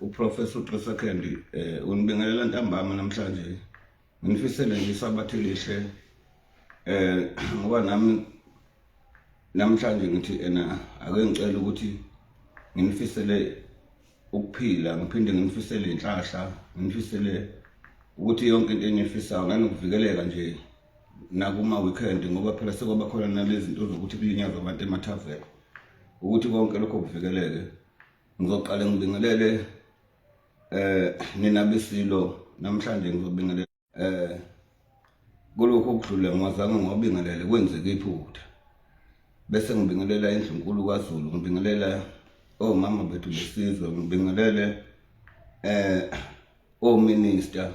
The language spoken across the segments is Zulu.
uprofessor utresa candy um eh, unibingelela ntambama namhlanje nginifisele nje isabathe lihle um ngoba nami namhlanje ngithi ena ake ngicela ukuthi nginifisele ukuphila ngiphinde nginifisele inhlahla nginifisele ukuthi yonke into enifisayo nanokuvikeleka nje nakuma-weekend ngoba phela sekwaba khona nalezinto zokuthi kulinyazwa abantu emathaveni ukuthi konke lokho kuvikeleke ngizoqale ngibingelele eh nina besilo namhlanje ngizobingelela eh kulokho okudlule ngiwazange ngiwabingelele kwenzeke iphutha bese ngibingelela indlu nkulu kwaZulu ngibingelela omama oh, bethu besizwe ngibingelele eh ominister oh,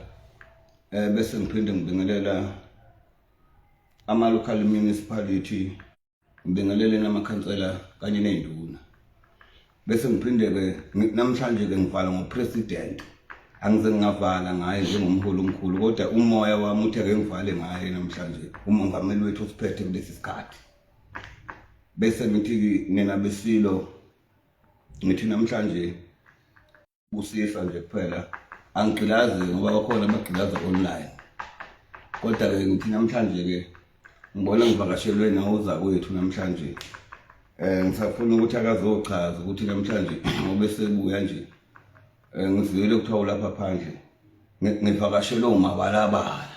eh bese ngiphinde ngibingelela ama local municipality ngibingelele namakhansela kanye nezinduna bese ngiphinde ke namhlanje ke ngivala ngo president angize ngingavala ngaye njengomholi omkhulu kodwa umoya wami uthe ke ngivale ngaye namhlanje umongameli wethu usiphethe kulesi sikhathi bese ngithi nina besilo ngithi namhlanje busisa nje kuphela angigqilazi ngoba bakhona abagqilaza online kodwa-ke ngithi namhlanje-ke ngibona ngivakashelwe nawuza kwethu namhlanje um ngisafuna ukuthi akazochaza ukuthi namhlanje ngoba esebuya nje um eh, ngiziyele kuthiwa ulapha phandle ngivakashelwe umabalabala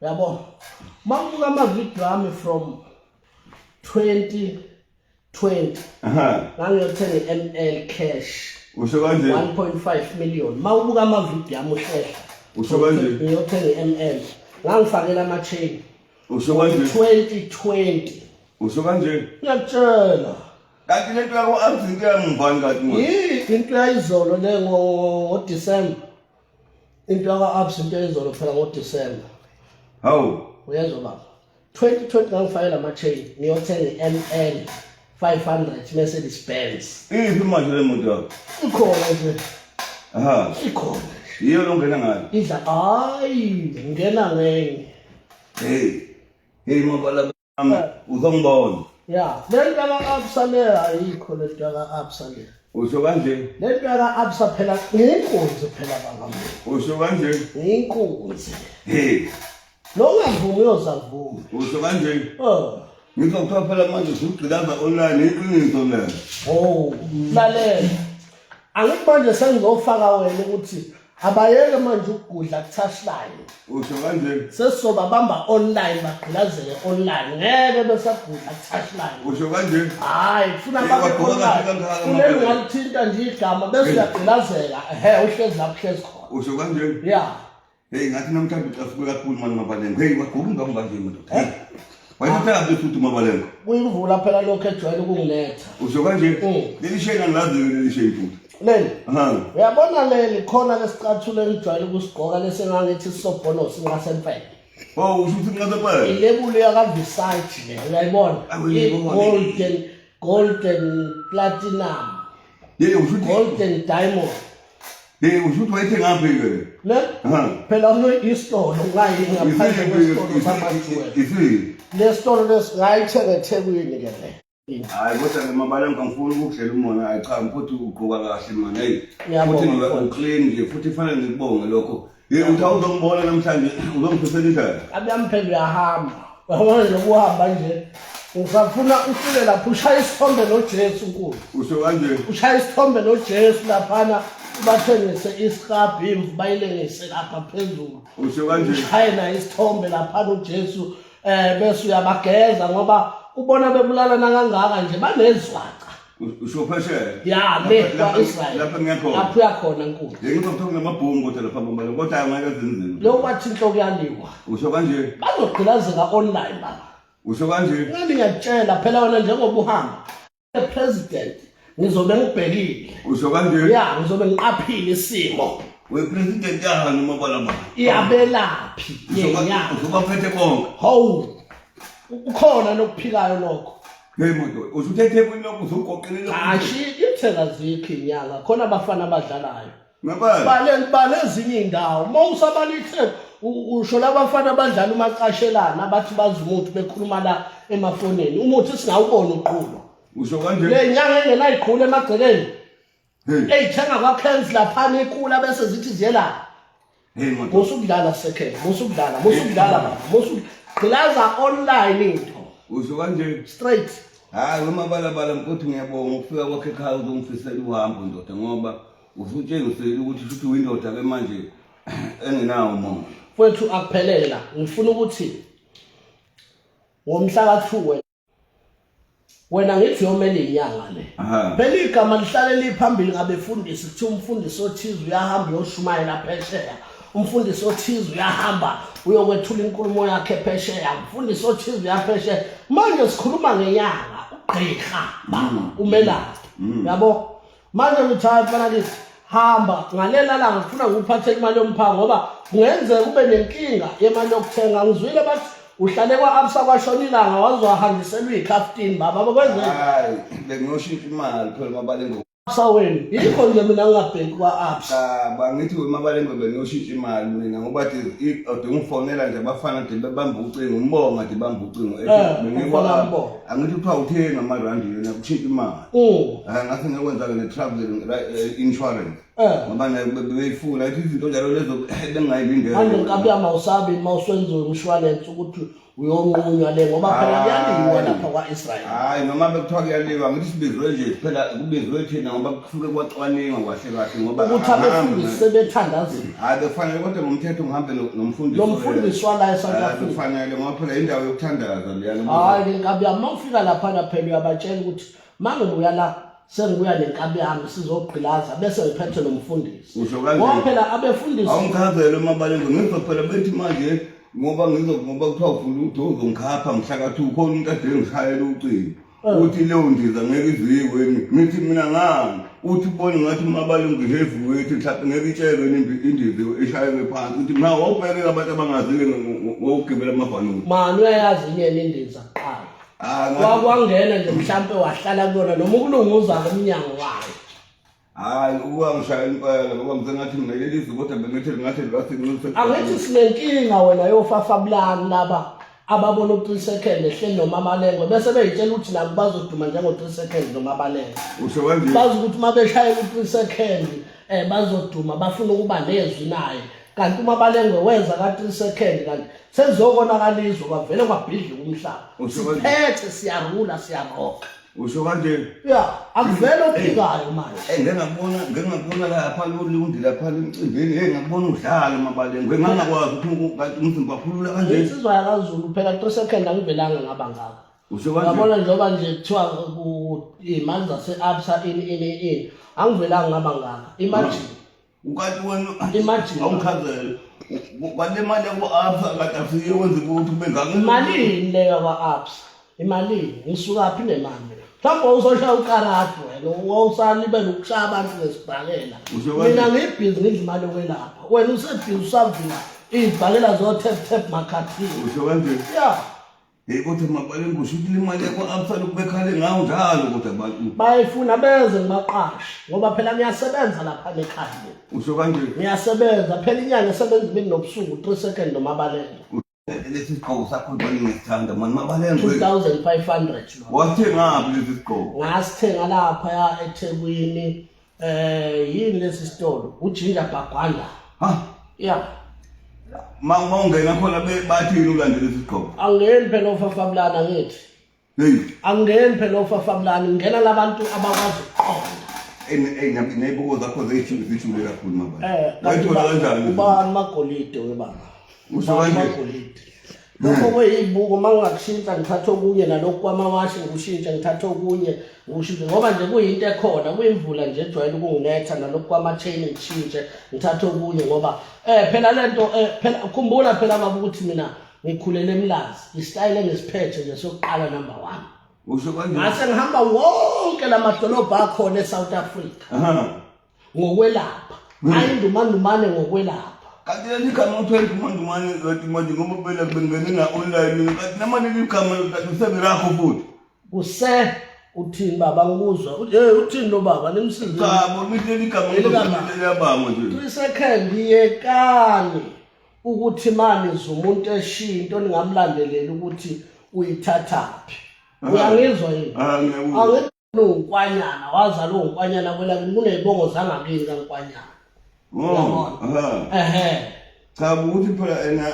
yabo mangibuka amavidiyo ami from 2020 ngangiyothenga i-ml cash usho kanje 1.5 million mawubuka amavidiyo ami uhlehla usho kanje ngiyothenga i-ml ngangifakela ama-chain usho kanje 2020 usho kanje ngiyakutshela kanti le nto yako-abs into yamuvani kanti yini into yayizolo le ngodisemba into yaka-abs into eyizolo phela ngodisemba hawu uyezwa baba 2020 ngangifakela ama-chain ngiyothenga i-ml 500 mercedes benz iphi manje le moto yakho ikhona nje aha ikhona yiyo lo ngena ngayo idla hayi ngena ngenye hey hey mabala uzongibona ya le nto ka-absa le ayikho le nto ka-absa le usho kanje le nto ka-absa phela ngiyinkunzi phela bangam usho kanje ngiyinkunzi lo ungavumi uyozavuma usho kanje oh. ngizwa kuthiwa phela manje usugqilaza online iqiniso lelo o oh, lalela angithi manje sengizofaka wena ukuthi abayeke manje ukugudla kuthashline usho kanjeni sesizoba bamba online bagqilazele online ngeke besagudla kuthashline usho kanjeni hayi kufuna babe online kuleli ngalithinta nje igama bese uyagqilazela ehe uhlezi lapho uhlezi khona usho kanjeni ya hey ngathi namhlanje ucafuke kakhulu mani mabalengo hey waguba ingama manje madoda hey wayemthanda bese uthi mabalengo kuyimvula phela lokho ejwayele ukungiletha usho kanjeni mm. leli shayina ngilazi leli shayina leli uyabona leli khona lesicathulo engijwayele ukusigqoka lesengangithi sisobhono sinqasempele Oh, usho ukuthi inqasempele. Ilebuli yakaVisage le, uyayibona? Golden golden platinum. Yeke usho ukuthi golden diamond. Yeke usho ukuthi wayethe ngaphi ke? Ne? Phela uno isitolo ngayi ngaphandle kwesitolo samathuwe. Isitolo lesingayithenga eThekwini ke le. Hayi kodwa ke mabala ngangifuni ukudlela umona hayi cha mfuthu ugqoka kahle manje hey futhi ngiba uclean nje futhi fanele ngikubonge lokho hey uthi awuzombona namhlanje uzongiphisela indlela abe amphela uyahamba uyabona nokuhamba nje usafuna ufike lapho ushaya isithombe noJesu nkulu usho kanje ushaya isithombe noJesu laphana bathengise isihabhu imvu bayilengise lapha phezulu usho kanje ushaye naye isithombe laphana uJesu eh bese uyabageza ngoba ubona bebulalana kangaka nje banezwaca usho phesheya ya le kwa Israel lapha ngekho lapha uyakhona nkulu yeke ngizokuthola ngamabhungu kodwa lapha ngombana kodwa angeke zinzima lo kwathi inhloko yaliwa usho kanje bazogqilazeka online baba usho kanje ngani ngiyakutshela phela wena njengoba uhamba president ngizobe ngibhekile usho kanje ya ngizobe ngiqaphile isimo we president yahani uma balama iyabelaphi yenya uzoba phethe konke hawu ukhona nokuphilayo lokho Hey manje usuthethe kwini lokho uzogoqelela Hashi ithela zikho inyanga khona abafana abadlalayo bale ezinye iy'ndawo uma usabala ithemba usho labafana abadlala umacashelana abathi bazi umuthi bekhuluma la emafonini umuthi singawubona uqhuba usho kanje le nyanga engenayigqula emagcekeni eyithenga kwakhens laphana ikula bese zithi ziyelapha musa ukudlala second musa ukudlala musa ukudlala baba musa gqilaza online into usho kanje straight hayi wemabalabala mkothi ngiyabonga ukufika kwakhe ekhaya uzongifisela uhambo ndoda ngoba usutshengisele ukuthi futhi windoda ke manje engenawo umongo kwethu akuphelele la ngifuna ukuthi ngomhla ka-2 wena ngithi yomele inyanga le phela igama lihlale liphambili ngabefundisi kuthiwa umfundisi othize uyahamba uyoshumayela phesheya umfundisi othize uyahamba uyokwethula inkulumo yakhe phesheya umfundisi othize uyaphesheya manje sikhuluma ngenyanga ugqirha mama mm. umelaphi mm. yabo manje ngithatha banakithi hamba ngalela langa ngifuna ngikuphathe imali yomphango ngoba kungenzeka kube nenkinga yemali yokuthenga ngizwile bathi uhlale kwa-absa kwashona ilanga waze wahangiselwa iy'khaftini baba bakwenzeka hayi bengiyoshintsha imali phela mabalengwe absa wenu yikho nje mina ngingabheki kwa-absa bangithi wemabalengwe bengiyoshintsha imali mina ngoba de ude ungifonela nje abafana de bebamba ucingo umbonga de bamba ucingo Eh, bengikwa- umbonga. angithi kuthiwa uthenga amarandi yona kushintsha imali um hayi ngathi ngekwenza-ke ne-traveling ri- eh, insurance Eh. ngoba nayo be- bebeyifuna ithi izinto njalo lezo manje bengingayilindele nkabuya mawusabi ma usenziwe umshwalense ukuthi uyonqunywa le ngoba phela Hayi. kuyaliwa lapha kwa-israyeli hhayi noma bekuthiwa kuyaliwa ngithi sibizwe nje phela kubizwe thina ngoba kusuke kwacwaningwa kwahle kahle ngoba ukuthi abefundisi sebethandazile hayi bekufanele kodwa ngomthetho ngihambe nomfundisi lo mfundisi wala eSouth Africa bekufanele ngoba phela indawo yokuthandaza leyana hayi ke nkabi yami mawufika lapha na phela uyabatshela ukuthi mangibuya la sengibuya nenkabi yami sizogqilaza bese ngiphethe lo mfundisi usho kanje ngoba phela abefundisi awumchazele uma balenze ngizwa phela bethi manje ngoba ngizokuba kuthiwa ufuna udozo ngikhapha ngihlakathuka khona umuntu adengishayela ucingo uthi leyo ndiza ngeke iziyiweni ngithi mina ngani uthi bone ngathi uma balungihevu wethu mhlawumbe ngeke itshelwe indizi ishayelwe phansi uthi ma wawubhekeka abantu abangazile wawugibela amabhanoni mani uyayazi inyeni indiza kuqala ah, wakwangena nje mhlawumpe wahlala kuyona noma ukulunguza lomnyango wayo hayi ukuba ngishaya impela ngoba ngisengathi mina leli zwi kodwa bengithi lingathi libasinxuse angithi sinenkinga wena yofafabulani laba ababona u-three second ehleli nomamalengwe bese beyitshela ukuthi nabo bazoduma njengo-three second nomabalengwe usho kanje bazi ukuthi uma beshayela u-three second um bazoduma bafuna ukuba nezwi naye kanti uma balengwe wenza ka-three second kanti sekuzokonakalizwa kwavele kwabhidlika umhlaba siphethe siyarula siyaroka usho kanje ya akuvele ophikayo manje eh ngengakubona ngengakubona lapha lolundi lapha emcimbini hey ngakubona udlala mabaleni ngengangakwazi ukuthi kanti umzimba phulula kanje insizwa yakazulu phela to second angivelanga ngaba ngaka usho kanje ngabona njengoba nje kuthiwa imali zase absa in in in angivelanga ngaba ngaka imagine ukati wenu Imagine. awuchazele kwale mali yaku-absa kade afike wenze ukuthi kube ngangile imalini le yakwa-absa imalini ngisukaphi nemali mina mhlawumbe wawuzoshaya ukarati wena wawusalibela ukushaya abantu ngesibhakela Usho kanje. mina ngiyibhizi ngidla imali yokwelapha wena usebhizi usavula iy'bhakela zo-tap tap makhathini usho kanjeni ya Hey kodwa mabale ngisho ukuthi imali yakho absala ukubekhale ngawo njalo kodwa abantu. Bayifuna beze ngibaqashe ngoba phela ngiyasebenza lapha ekhaya. Usho kanje. Ngiyasebenza phela inyanga esebenza imini nobusuku 3 second nomabalelo. Lesi sigqoko sakho ngibona ngisithanda mani mabalelo. 2500 lo. Wathengaphi lesi sigqoko? Ngasithenga lapha ya eThekwini. Eh yini lesi sitolo? Ujinja Bagwanda. Ha? Yeah. Ma ungena khona bathi yini ulandele isigqoko? Angeni phela ofafabulana ngithi. Hey. Angeni phela ofafabulana ngena labantu abakwazi ukuqonda. neibuko zakho zeyishule kakhulu mabani wayithola kanjani ubani magolide webaba usokangeni lokho hmm. kweyibuko uma ungakushintsha ngithatha okunye nalokhu kwamawashi ngikushintshe ngithatha okunye ngikushintshe ngoba nje kuyinto ekhona kuyimvula nje ejwayele ukunginetha nalokhu kwama-chain ngishintshe ngithathe okunye ngoba um phela le nto um phela khumbula phela baba ukuthi mina ngikhulele emlazi isitayile engisiphethe nje sokuqala number one ngase ngihamba wonke la madolobha akhona esouth africa ngokwelapha hmm. ayindumandumane ngokwelapha kati ya nika mtu ya tuma dumani ya tuma jumbo pele bengani na online kati nama nili kama kati sabi rako futi kuse uthini baba ngikuzwa hey uthini lo baba nimsize cha bo miteli kama mtu ya baba mtu tuisekhembi yekani ukuthi manje zomuntu eshiya into ningamlandelela ukuthi uyithathaphi uyangizwa yini unkwanyana wazalwa unkwanyana kwelakini kunezibongo zangakini kankwanyana mm, ehe cha ukuthi phela ena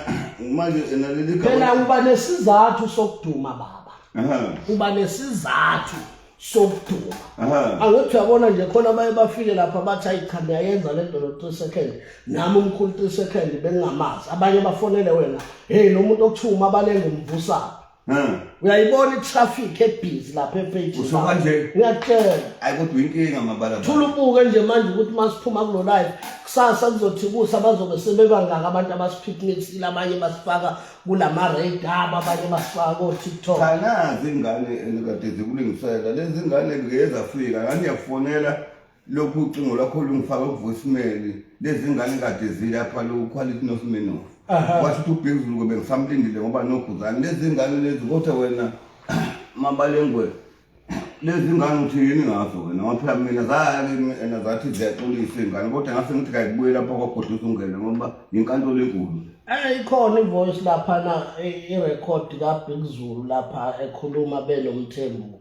manje ena leli gama phela uba nesizathu sokuduma baba uba nesizathu sokuduma angithi uyabona nje khona baye bafike lapha bathi ayikhanda yayenza le nto no-three second nami umkhulu three second bengingamazi abanye bafonele wena heyi lo muntu okuthiwa umabalenga umvusaphi Hmm. uyayibona itraffic ebhizi lapha epage usho kanje ngiyakutshela ayi kodwa inkinga mabala thula ubuke nje manje ukuthi masiphuma kulo live kusasa kuzothi kusa bazobe sebebangaka abantu abasipicnicile abanye basifaka kulama radar abanye basifaka ko TikTok kanazi ingane enikade zikulingisela lezi ngane ngeke zafika ngani yakufonela lokhu ucingo lwakho lungifaka kuvoicemail lezi ngane kade zilapha lo quality nosimenof washo ukuthi ubhekuzulu kobe ngisamlindile ngoba nokhuzane lezi ngane lezi kodwa wena mabalengwe lezi ngane uthi yini ngazo wena ngoba phela mina zakimi and zathi ziyaxolisa iy'ngane kodwa ngase ngithi kayibuye lapha kwagodla usungele ngoba yinkantolo enkulu Eh ikhona ivoice lapha na irecord kaBig Zulu lapha ekhuluma benomthembu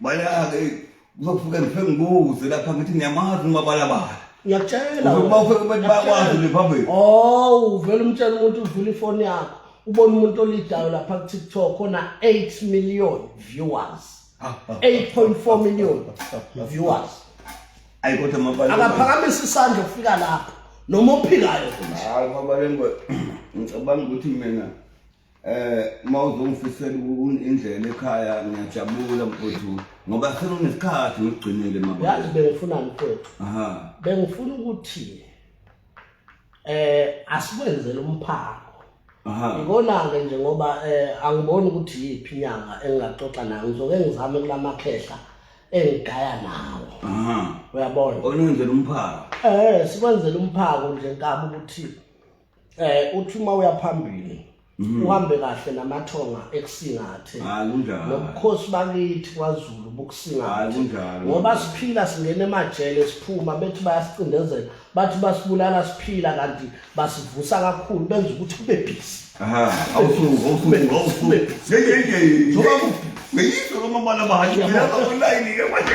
Bala-ke kuzofike ngifike ngibuze lapha ngithi ngiyamazi umabalabala. Ngiyakutshela. Uma ufike kubantu bakwazi liphambili. Oh, uvela umtshela umuntu uvula ifoni yakho. Ubona umuntu olidayo lapha ku TikTok ona 8 million viewers. 8.4 million viewers. Ayi kodwa mabala. Akaphakamisa isandla ukufika lapha. Noma ophikayo. Hayi mabala ngicabanga ukuthi mina eh uma uzongifisela indlela ekhaya ngiyajabula mfowethu ngoba sekunesikhathi ngigcinile mama yazi bengifuna mfowethu aha bengifuna ukuthi eh asikwenzele umphako aha ikona ke nje ngoba eh angiboni ukuthi yipi inyanga engingaxoxa nayo ngizoke ngizame kulamakhehla engigaya nawo aha uyabona onenzela umphako eh sikwenzele umphako nje nkabi ukuthi eh uthi uma uyaphambili mhm. uhambe kahle namathonga ekusingathe ah, nobukhosi bakithi kwaZulu bukusingathe ah, ngoba siphila singena emajele siphuma bethi bayasicindezela bathi basibulala siphila kanti basivusa kakhulu benza ukuthi kube busy aha awusuku awusuku awusuku ngeke ngeke njengoba ngiyizwa lomabala bahajela online ke manje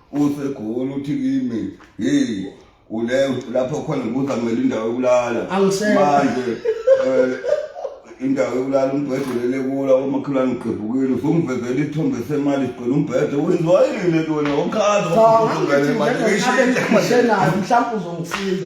usegoli uthi kimi hey ule lapho khona ngibuza kumele indawo yokulala manje eh, indawo yokulala umbhedo lele kula omakhelwane ngigqibhukile usungivezela isithombe semali sigcwele umbhedo wenziwa yini le nto wena okhaza mhlawumbe uzongisiza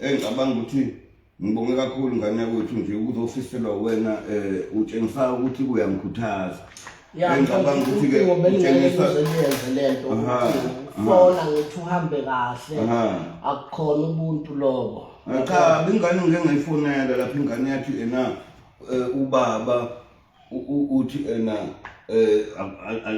Eh ngicabanga ukuthi ngibonge kakhulu ngane yakwethu nje ukuzofiselwa wena eh utshengisa ukuthi uyamkhuthaza. Yeah, eh, ngicabanga ukuthi ke utshengisa uzenze lento ukuthi fona ngithi uhambe kahle akukhona ubuntu lobo. Eh, cha ingane ngeke ngayifonela lapha ingane yathi ena eh, ubaba uthi ena eh, um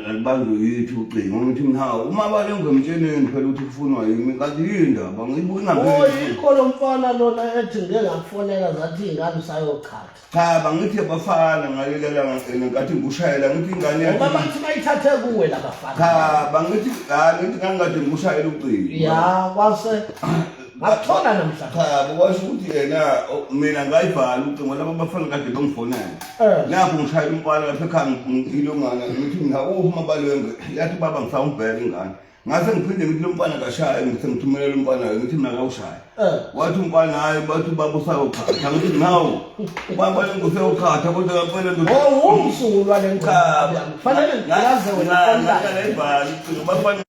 alibanjwe yithi ucingo ngithi mna uma balengomtsheneni phela ukuthi kufunwa yimi kanti yindaba ngiyibuyingayikho lo mfana lona ethi ngike ngakufonela zathi iy'ngane usayochatha cha bangithi abafana ngalelelangikathi ngikushayela ngithi ingane yaoba bathi bayithathe kuwe labafana cha bangithi hayi ngithi ngangikade ngikushayela ucingo ya kwase Ngathona namhlanje. Cha kuwasho ukuthi yena mina ngayivala ucingo laba bafana kade bangifonela. Eh. Lapho ngishayela umfana lapha ekhaya ngilo ngana ngithi mina uphi mabalwenze yathi baba ngifaka umbheke ingane. Ngase ngiphinde ngithi lo mfana kashaya ngithe ngithumelela umfana ngithi mina kawushaya. Eh. Wathi umfana hayi bathi baba usayokhatha ngithi ngawo. Baba lengosi yokhatha kodwa kampela ndoda. Oh umsulwa lenqaba. Fanele ngaze wena. Ngale ibhali ucingo bafana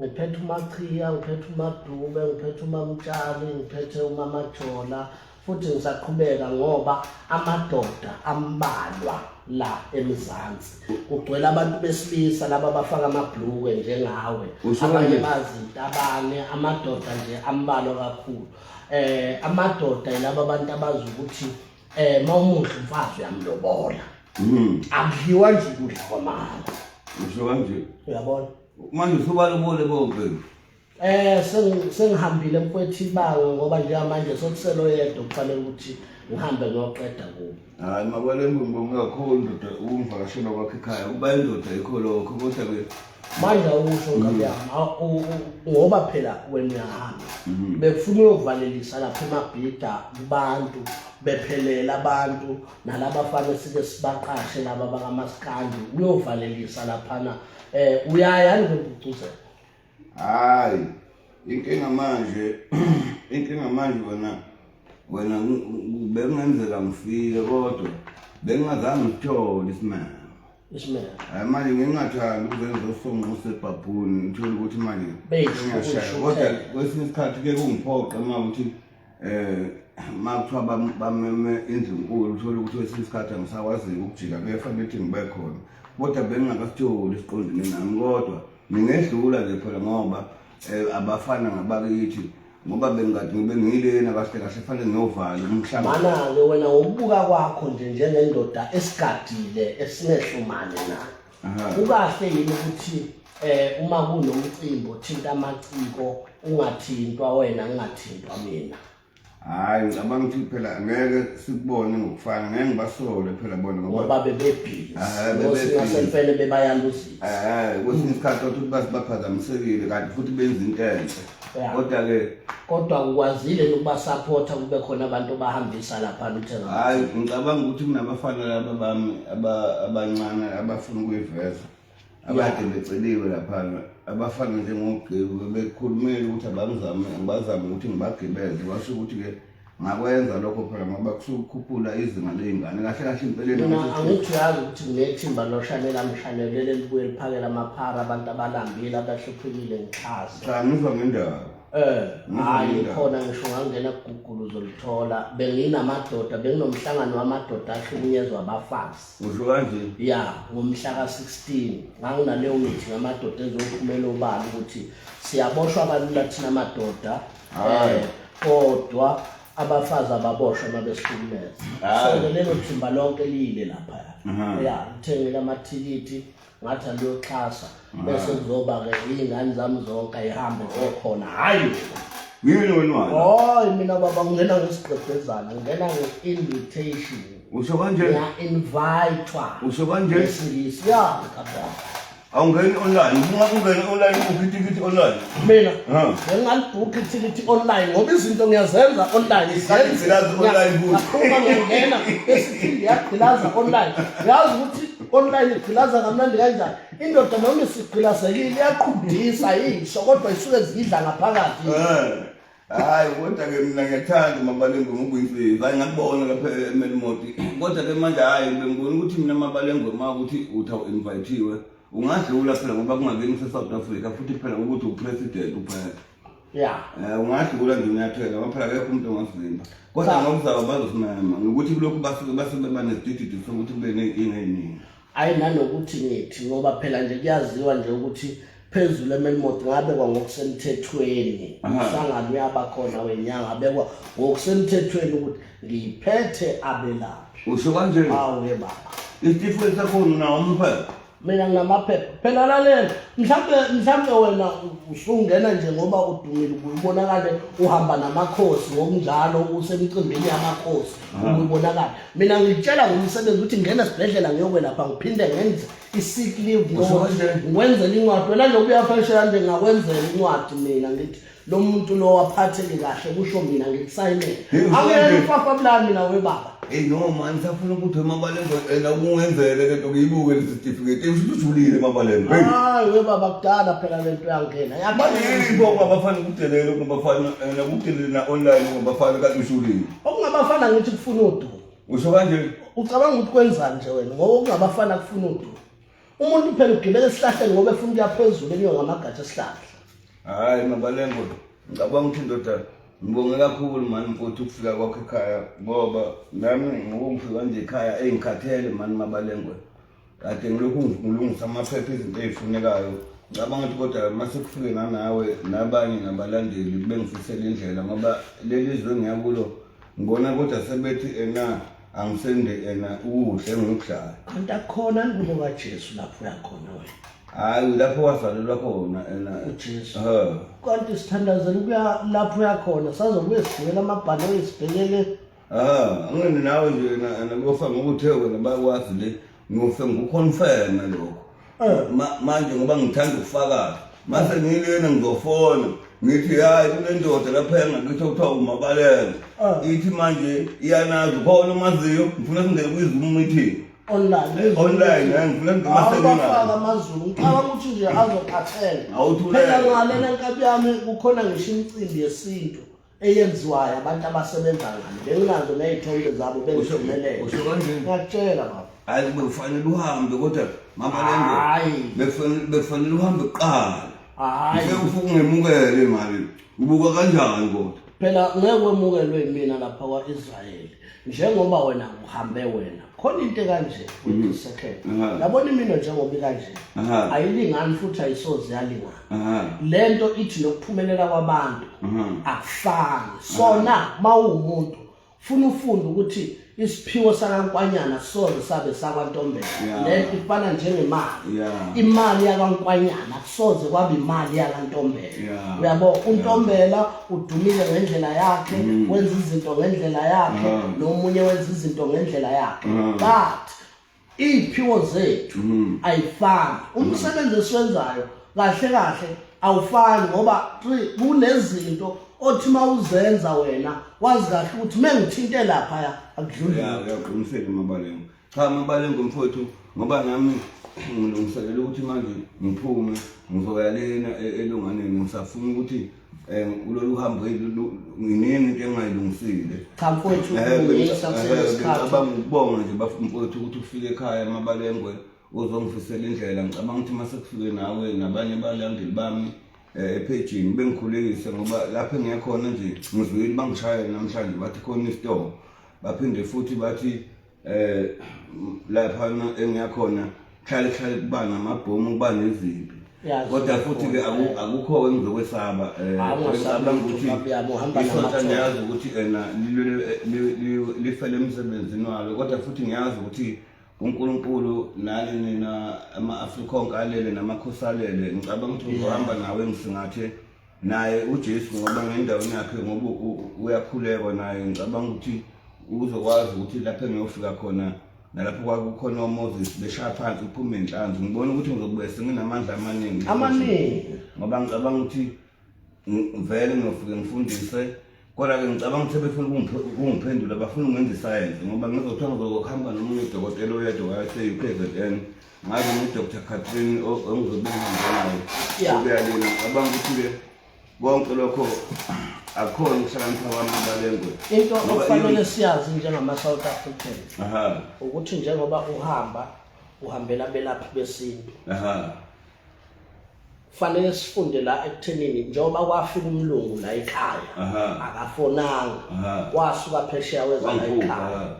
ngiphethe umachiya ngiphethe umadube ngiphethe umamtshali ngiphethe umamajola futhi ngisaqhubeka ngoba amadoda ambalwa la emzansi kugcwele abantu besilisa laba bafaka amabhlukwe njengawe abanye bazintabane amadoda nje ambalwa kakhulu eh amadoda yilaba abantu abazi ukuthi Eh mawumuhle mfazi uyamlobola. Mhm. Akudliwa nje ukudla kwamama. Usho kanje. Uyabona? Manje usubalobole bonke. Eh sengihambile mfwethi ibanga ngoba njengamanje sokuselo yedwa kufanele ukuthi ngihambe ngiyoqeda kubo. Hayi makwale mbongo kakhulu ndoda ukungivakashela kwakhe ekhaya kuba indoda ikho lokho kodwa ke manje awusho mm. nkabi yami ngoba phela wena uyahamba mm-hmm. bekufuna uyovalelisa lapha emabhida kubantu bephelela abantu nalaba fana sike sibaqashe laba bakamasikandi uyovalelisa laphana um uyaya anikubucuzela hayi inkinga manje inkinga manje wena wena bekungenzeka ngifile kodwa bengingazange ngithole isimanga Ishmael. Hayi manje ngingathandi ukuze ngizosonga usebhabhuni ngithole ukuthi manje ngiyashaya kodwa kwesinye isikhathi ke kungiphoqa uma ukuthi eh makuthiwa bameme indlu nkulu uthole ukuthi kwesinye isikhathi angisakwaziyo ukujika kuyafanele ukuthi ngibe khona kodwa bengingakasitholi isiqondene nami kodwa ngingedlula nje phela ngoba um abafana ngabakithi ngoba bengathi ngibe ngilena kahle kahle fanele ngiyovala umhlaba mana-ke wena ngokubuka kwakho nje njengendoda esigadile esinehlumane na kukahle yini ukuthi eh uma kunomcimbi othinta amaciko ungathintwa wena ungathintwa mina hayi ngicabanga ukuthi phela ngeke sikubone ngokufana ngeke ngibasole phela bona ngoba bebebhizi bebayaluzisa kwesinye isikhathi othi baphazamisekile kanti futhi benza into enhle kodwa ke kodwa ukwazile ukuba support kube khona abantu bahambisa lapha luthenga hayi ngicabanga ukuthi kunabafana laba bami abancane abafuna ukuyiveza abade beceliwe lapha abafana njengogqibu bekhulumile ukuthi abangizame ngibazame ukuthi ngibagibeze basho ukuthi ke ngakwenza lokho phela ngoba kusukukhuphula izinga ley'ngane kahle kahle impeleni mina angithi uyazi ukuthi nginethimba loshanela mshanelele elibuye liphakela amaphara abantu abalambile abahluphekile ngixhasa cha ngizwa ngendaba Eh, hayi khona ngisho ngangena kugugulu uzolithola benginamadoda benginomhlangano wamadoda ahlukunyezwa abafazi usho kanje ya ngomhla ka-16 nganginaleyo mithi ngamadoda ezophumela obala ukuthi siyaboshwa kalula thina madoda Hayi. Eh, kodwa abafazi ababoshwe uma besihlukumeza Hayi. so lelo thimba lonke liyile laphaya Aha. ya ngithengile amathikithi ngathi andiyoxhasa bese kuzoba-ke iy'ngane zami zonke ayihambe zokhona hhayi Ngiyini wena wani? hoyi mina baba ngingena ngesigqebhezana ngingena nge-invitation Usho kanje? ngiya-invitwa Usho kanje? ngesingisi ya kababa awungeni online uma ungeni online ubukhe ithikithi online mina Ha. bengingalibhukha ithikithi online ngoba izinto ngiyazenza online Ngigqilaza online futhi. ngakhuluma ngiyangena esiphinde yagqilaza online yazi ukuthi online igqilaza kamnandi kanjani indoda noma isigqilazekile iyaqhudisa yisho kodwa isuke zidla ngaphakathi Eh. hayi kodwa ke mina ngiyathanda umabalengwe ngokuyimfezi hayi ngakubona lapha emelimoti kodwa ke manje hayi bengibona ukuthi mina mabalengwe ma ukuthi uthi awu-invayithiwe ungadlula phela ngoba kungakeni kusesouth africa futhi phela ukuthi upresident uphela ya um ungadlula nje unyathela ngoba phela kekho umuntu ongazimba kodwa ngokuzaba bazosimema ngokuthi kulokhu basuke basebebanesidididi sokuthi kube ney'nkinga ey'ningi Hayi nanokuthi ngithi ngoba phela nje kuyaziwa nje ukuthi phezulu eMelmont ngabekwa ngokusemthethweni umhlangano uyaba khona wenyanga abekwa ngokusemthethweni ukuthi ngiphethe abelaphi usho kanje awu ke baba isitifiketi sakho unawo umphepha mina nginamaphepha phela lalela mhlawumbe mhlawumbe wena usungena nje ngoba udumile ubonakale uhamba namakhosi ngokunjalo usemcimbini yamakhosi ubonakale mina ngitshela ngomsebenzi ukuthi ngena esibhedlela ngiyokwelapha ngiphinde ngenze i-sick leave ngiwenzela incwadi wena nje kuyafeshela nje ngakwenzela incwadi mina ngithi lo muntu lo waphatheke kahle kusho mina ngikusayinele angiyena ufafa bulani mina webaba Hey no man safuna ukuthi emabalendo ena kungenzele lento ngiyibuke lesitifiketi engisho ujulile emabalendo hey hayi we baba kudala phela lento yangena yabalini bo bafana ukudelela bafana ena ukudelela online bafana kanti ujulile okungabafana ngithi kufuna udumo usho kanje ucabanga ukuthi kwenzani nje wena ngoba okungabafana kufuna udumo umuntu phela ugibela esihlahleni ngoba efuna ukuya phezulu enyuka ngamagatsha esihlahla hayi mabalengo ngicabanga ukuthi indoda ngibonge kakhulu mani mfowethu ukufika kwakho ekhaya ngoba nami ngokungifika nje ekhaya engikhathele mani mabalengo kade ngilokhu ngilungisa amaphepha izinto ezifunekayo ngicabanga ukuthi kodwa uma sekufike nganawe nabanye nabalandeli bengifisela indlela ngoba leli zwe ngiyakulo ngibona kodwa sebethi ena angisende ena ukudla engikudlayo kanti akukhona ngubo kajesu lapho uyakhona wena hhayi lapho wazalelwa khona ena ujesu kanti sithandazela ukuya lapho uyakhona sazobuye sigibela amabhanoyi sibhekele Ah, angene nawe nje na- nakuyofa ngoba uthe wena bakwazi le ngiyofe ngikuconfirme lokho Eh. Ma- manje ngoba ngithanda ukufakaza mase ngilena ngizofona ngithi hayi kunendoda lapha engakithi okuthiwa umabalele Ah. ithi manje iyanazi khona umaziyo ngifuna singene kwizoom meeting online online eh, ngifuna singene awubafaka maseningazi amazulu ngicabanga ukuthi nje azophathela Awuthulele. phela ngalena nkabi yami kukhona ngisho imicimbi yesintu eyenziwayo abantu abasebenza ngani benginazo ney'thombe zabo bengivumelele Usho kanjani? ngiyakutshela baba Hayi bekufanele uhambe kodwa mama lengo Hayi. bekufanele bekufanele uhambe kuqala. Hhayi. Ngeke ufike ungemukele mali. Ubuka kanjani kodwa? phela ngeke wemukelwe yimina lapha kwa-israyeli njengoba wena uhambe wena khona into ekanje Mhm. second Aha. yabona imino njengoba ikanje Aha. ayilingani futhi ayisoze yalingana lento ithi nokuphumelela kwabantu akufani sona mawumuntu funa ufunde ukuthi isiphiwo sakankwanyana soze sabe sakwantombela lento ifana njengemali imali yakankwanyana kusoze kwaba imali yakantombela uyabo untombela udumile ngendlela yakhe mm. wenza izinto ngendlela yakhe nomunye wenza izinto ngendlela yakhe but iy'phiwo zethu mm. ayifani umsebenzi esiwenzayo kahle kahle awufani ngoba kunezinto othi uma uzenza wena wazi kahle ukuthi uma ngithinte laphaya akudluliyaqinisekile mabalengo cha mabalengo mfowethu ngoba nami ngilungiselela ukuthi manje ngiphume ngizoya lena e-, elunganeni ngisafuna ukuthi um kulolu hambo nginingi into engayilungisile cha mfowethu kulungisa kusenesikhathicabanga ukubonga nje bafumfowethu ukuthi ufike ekhaya amabalengwe uzongifisela indlela ngicabanga ukuthi uma sekufike nawe nabanye balandeli bami Eh, ephejini bengikhulekise ngoba lapho engiyakhona nje ngizwile bangishayela namhlanje bathi khona isitoko baphinde futhi bathi eh lapha engiyakhona hlale hlale kuba namabhomu kuba nezimpi kodwa futhi ke eh. akukho engizokwesaba eh, ah, ngisaba ukuthi isonta ngiyazi ukuthi ena lifele emsebenzini walo kodwa futhi ngiyazi ukuthi uNkulunkulu nani nina ama-Afrikonke alele namakhosi alele ngicabanga ukuthi ngizohamba nawe ngisingathe naye uJesu ngoba ngendaweni yakhe ngoba uyakhulekwa naye ngicabanga ukuthi uzokwazi ukuthi lapho engiyofika khona nalapho kwakukhona oMoses beshaya phansi uphume inhlanzi ngibona ukuthi ngizobuye senginamandla amaningi amaningi ngoba ngicabanga ukuthi vele ngiyofike ngifundise Kodwa-ke ngicabanga ukuthi befuna ukungiphendula bafuna ungenza isayensi ngoba ngizothiwa ngizokuhamba nomunye udokotela oyedwa wase-U K Z N ngazi ngu-Dr Catherine engizobengihambenayo ukuyalina ngicabanga ukuthi-ke konke lokho akukhona ukuhlakanipha kwami balengwe into okufanele siyazi njengama-south african ukuthi njengoba uhamba uhambela abelaphi besintu fanele sifunde la ekuthenini njengoba kwafika umlungu la ekhaya akafonanga wasuka phesheya weza la ekhaya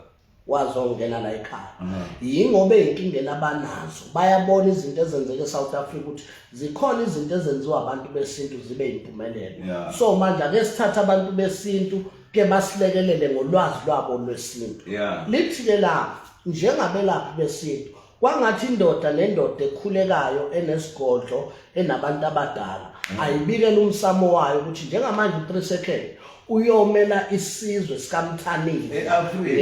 wazongena la ekhaya yingoba ezinkingeni abanazo bayabona izinto ezenzeka eSouth Africa ukuthi zikhona izinto ezenziwa abantu besintu zibe impumelelo so manje ake sithathe abantu besintu ke basilekelele ngolwazi lwabo lwesintu lithi ke la njengabelaphi besintu Kwangathi indoda nendoda ekhulekayo enesigodlo enabantu abadala mm. ayibikela umsamo wayo ukuthi njengamanje u3 second uyomela isizwe sikamthanile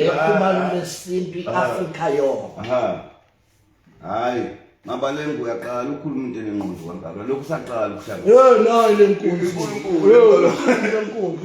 ekhumalo lesintu iAfrika yonke hayi mabalengu uyaqala ukhuluma into enenqondo kangaka lokhu saqala ukushaya hey nayi lenkunzi lenkunzi lenkunzi lenkunzi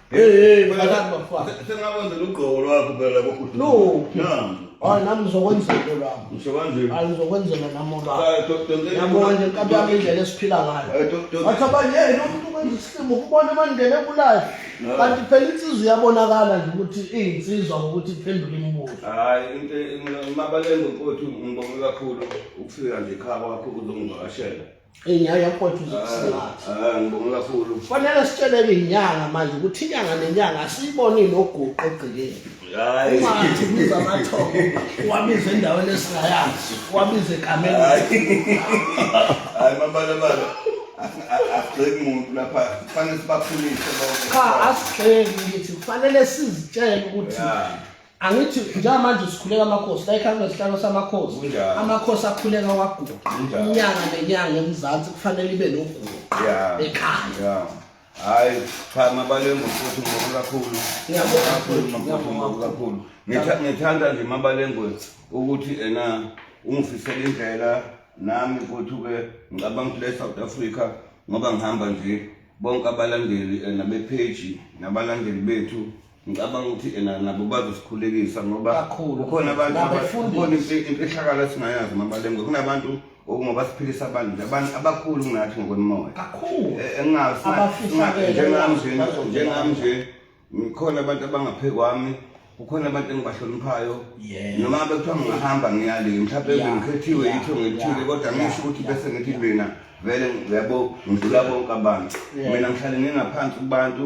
Hey hey mfana mfana. Sengakwenza lugqoko lwakho phela kokuthi. No. Nami. Hayi nami ngizokwenza into lami. Ngisho kanje. Hayi ngizokwenzela nami oba. Yabona nje inkabi yami indlela esiphila ngayo. Wathi abanye hey lo muntu kwenza isilimo ukubona amandlela ebulayo. Kanti phela insizwa iyabonakala nje ukuthi iyinsizwa ngokuthi iphendule imibuzo. Hayi into mabalenga ukuthi ngibonge kakhulu ukufika nje ekhaya kwakho uzongivakashela. Inyawo yakhotha uzokusingatha. Ah, ngibonga kakhulu. Fanele sitsheleke inyanga manje ukuthi inyanga nenyanga asiyiboni noguqo egcikeni. Hayi. Ungathi ubiza amathongo, wabiza endaweni esingayazi, wabiza egameni. Hayi mabalabala. Asigxeki muntu lapha. Kufanele sibakhulise bonke. Cha asigxeki ngithi kufanele sizitshele ukuthi Yeah. angithi njengamanje usikhuleka amakhosi la ikhansela sihlalo samakhosi Kunjalo. amakhosi akhuleka waguqa Kunjalo. inyanga nenyanga emzansi kufanele ibe noguqa ya ekhaya ya hayi cha mabalengu futhi ngoku kakhulu Ngiyabonga kakhulu futhi, makhulu ngiyabonga ngoku kakhulu Ngitha- ngithanda nje mabalengwe ukuthi ena ungifisela indlela nami futhi ke ngicabanga ukuthi le south africa ngoba ngihamba nje bonke abalandeli ena bepheji nabalandeli bethu ngicabanga ukuthi ena nabo bazosikhulekisa ngoba kukhona abantu kukhona imfihlakalo esingayazi mabalengwe kunabantu okungoba siphilisa abantu nje abantu abakhulu kunathi ngokwemoya kakhulu e, engasinjengami nje njengami nje ngikhona abantu abangaphe kwami kukhona abantu engibahloniphayo noma bekuthiwa ngingahamba ngiyale mhlawumbe ngikhethiwe yitho ngithile kodwa ngisho ukuthi bese ngithi mina vele yabo ngidlula bonke abantu mina ngihlale ngingaphansi kubantu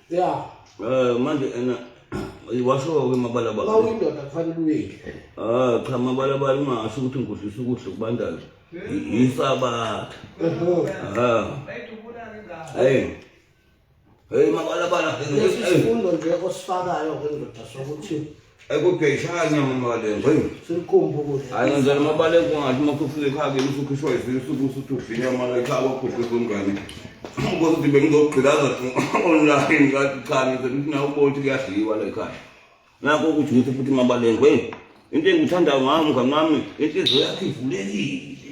ya eh manje ena washo ke mabalabala ba uyindoda kufanele uyile ah cha mabalabala ungasho ukuthi ngikudlisa ukudla kubandayo yisabatha ah hey hey mabalabala isifundo nje osifakayo ke ndoda sokuthi ayikugeyishanya mamalenga hayi selikhumbuke hayi ngenzela amabaleka ungathi uma sufika ekhaya kimi usukhishwa yivile usuku usuthi uvinya amala ekhaya wakhuhlisa umngane ngoba uthi bengizogqilaza online ngathi cha ngize ngithi nawe ubona ukuthi kuyadliwa la ekhaya nakho ukuthi ngithi futhi mabalengwe into engikuthandayo ngami mngani wami inhliziyo yakho ivulekile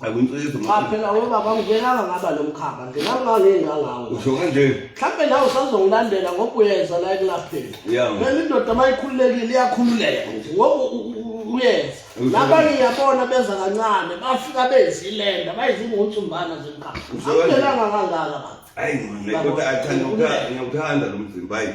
akunciso cha phela webaba ngikelanga ngaba lo mkhaba nginangangengangawo usho kanje mhlawumbe nawe usazongilandela ngoba uyeza la ekulapheni phela indoda uma ikhululekile iyakhululeka nje ngoba uyenza nabanye ngiyabona benza kancane bafika bezilenda bayizingunsumbana zemkhaba akukelanga kangaka baba hayi kodwa athanda ngiyawuthanda lo mzimba hayi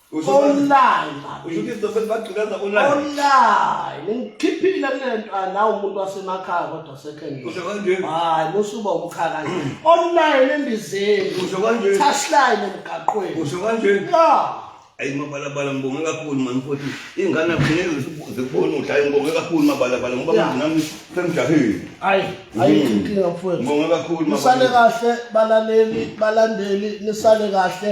Usho manje- online baby. usho ukuthi izitofeli bagqilaza online online ngikhiphile kule nto ah, nawe umuntu wasemakhaya kodwa sekengile usho kanjeni hayi musuba umkhaya kanje online embizeni usho kanjeni touchline emgaqweni usho kanjeni ya ayi mabalabala ngibonge kakhulu mani futhi iy'ngane akufuneki ziku- zikubone ukuthi ayi ngibonge kakhulu mabalabala ngoba Yeah. manje nami semjahile hayi Mm. ayikho inkinga mfowethu ngibonge kakhulu nisale Mabalabala. kahle balaleli balandeli nisale kahle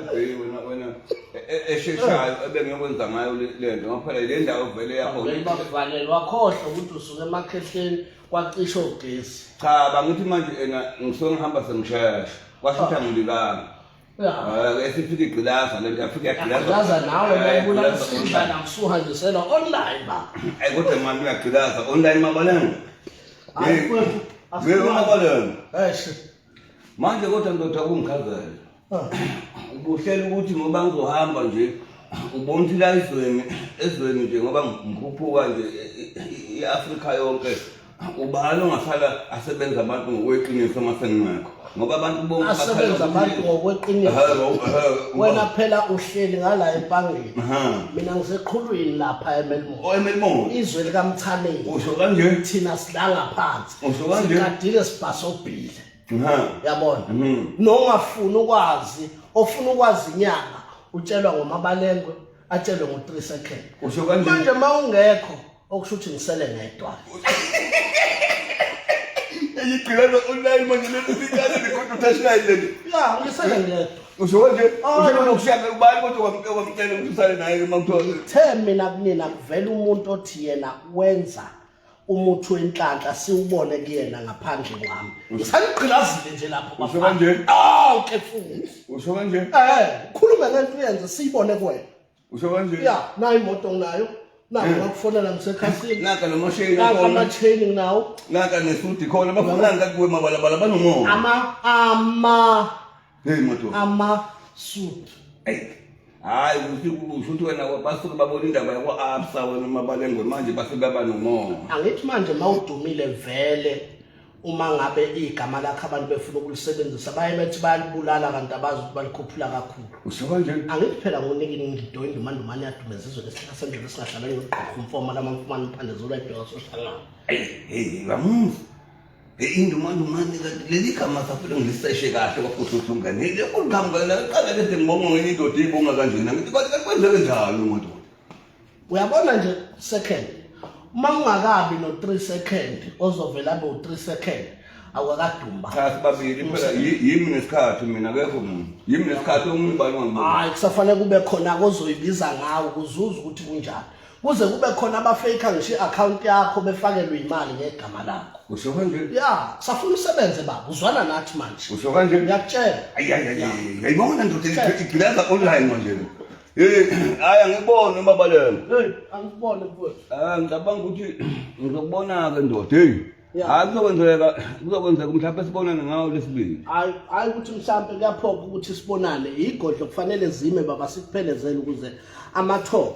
Hey wena wena e- e- esheshayo ebengiyokwenza ngayo le- le nto ngoba phela le ndawo vele yakho Vele bakuvalele wakhohlwa ukuthi usuke emakhehleni kwacisha ogesi cha bangithi manje ena ngisuke ngihamba sengishesha kwashutha ngilibanga uyahamba esifika igqilaza le nto afika laza nawe bayibulala igqilaza isindlana ngisuhanjisela online ba ayi kodwa mani uyagqilaza online mabalenge Hayi, Hey, mfwethu, we umabalenge eish manje kodwa ndoda kungikhazayo ah. ubuhlela ukuthi ngoba ngizohamba nje ubona ukuthi la izweni ezweni nje ngoba ngikhuphuka nje i-afrika yonke ubani ongahlala asebenza abantu ngokweqiniso uma sengingekho ngoba abantu bonke asebenza abantu ngokweqiniso wena phela uhleli ngala empangeni mina ngiseqhulwini lapha emelmore oh, emelmore izwe likamthaneni usho kanje thina sidlala phansi usukanjena siqadile sibhasobhile yabona mhm. nongafuni ukwazi ofuna ukwazi inyanga utshelwa ngomabalengwe atshelwe ngo-3 second manje uma ungekho okusho ukuthi ngisele ngedwa igcilelo online manje lelilikale likhona uthashinayi leli ya ngisele ngedwa usho kanje ushanokushaka ubani kodwa kwamtshela ukuthi usale naye uma kuthiwa uthe mina kunina kuvela umuntu othi yena wenza umuthi wenhlanhla siwubone kuyena ngaphandle kwami ngisanigqilazile nje lapho usho kanje aw ke futhi usho kanje eh khulume ngento uyenze siyibone kuwena usho kanje ya nayo imoto nginayo nako eh. bakufonela ngisekhasini naka nomosheni naka amachain nginawo naka nesudi khona bafunani kakuwe mabalabala banomoya ama ama Hey madoda. Ama suit. Hey. Hayi ukuthi ukuthi wena basuke babona indaba yakwa Absa wena mabalengwe manje base baba nomona. Angithi manje mawudumile vele uma ngabe igama lakhe abantu befuna ukulisebenzisa baye bethi bayalibulala kanti abazi ukuthi balikhuphula kakhulu. Usho kanjani? Angithi phela ngonikini ngidoyi ndumandumane yadumeza izwe lesihlala sendlela singahlala ngigqoka umfoma lama mfumana umphande zula ibheka sohlala. Hey, hey, ngamuzi. indumandumane kanti leli gama saphela ngiliseshe kahle kwafuhluthlunganile kuliqhamukana qala kade ngibonga ngenye indoda eyibonga kanjena ngithi kanti kanti kwenzeke njani umuntu uyabona nje second uma ungakabi no-three second ozovela abe u-three second awakadumba cha sibabili phela yimi nesikhathi mina kekho muntu yimi nesikhathi omunye ubani wangibuka hayi kusafanele kube khona kozoyibiza ngawo kuzuza ukuthi kunjani kuze kube khona abafake ngisho i-akhawunti yakho befakelwe imali ngegama lakho usho kanje ya safuna usebenze baba uzwana nathi manje usho kanje ngiyakutshela ayayayayibona ndoda igileza online manje hayi angikuboni umabalelo angikuboni mfowethu um ngicabanga ukuthi ngizokubona-ke ndoda heyi hayi kuzokwenzeka kuzokwenzeka mhlawumpe sibonane ngawo lesibili hayi hayi ukuthi mhlawumpe kuyaphoka ukuthi sibonane yigodlo kufanele zime baba sikuphelezele ukuze amathoba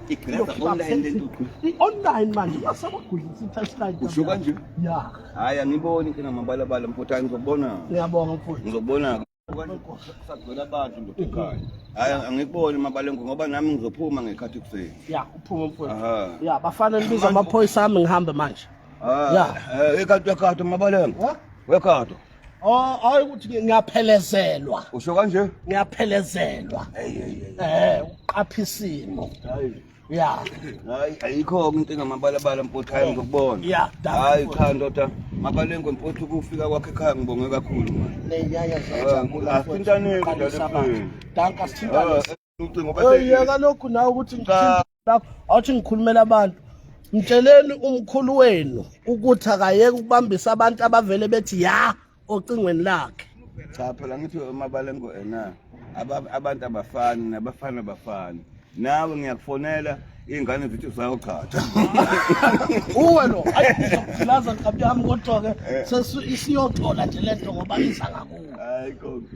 online manje uyasabagulisa i-testline usho kanje ya hayi angiboni into namabalabala mfutha ngizobona ngiyabonga mfutha ngizobona sagcwele abantu ndoda ekhaya hayi angikuboni mabalengu ngoba nami ngizophuma ngekhathi kuseni ya uphuma mfutha ya bafana nibiza amaphoyisa ami ngihambe manje ah, ya eh, ekhathi wekhathi mabalengu wekhathi Oh, hayi ukuthi ngiyaphelezelwa. Usho kanje? Ngiyaphelezelwa. Hey hey hey. Eh, uqapha isimo. Hayi. Ya. Hayi, ayikho umuntu engamabalabala mfuthu hayi ngokubona. Ya, hayi cha ndoda. Mabalengwe mfuthu kufika kwakhe ekhaya ngibonge kakhulu manje. Neyaya zajabula. Asintane kodwa. Danka sithintane. ucingo bese yeka lokhu nawe ukuthi ngithinta lapho awuthi ngikhulumela abantu mtsheleni umkhulu wenu ukuthi akayeke ukubambisa abantu abavele bethi ya ocingweni lakhe cha phela ngithi umabalengo ena abantu abafani nabafana abafani nawe ngiyakufonela iy'ngane zithi zayogchatha uwe lo ayi ngizokulaza nkabi yami kodwa-ke eh. isiyoxola nje le nto ngoba iza ngakuwe hayi konke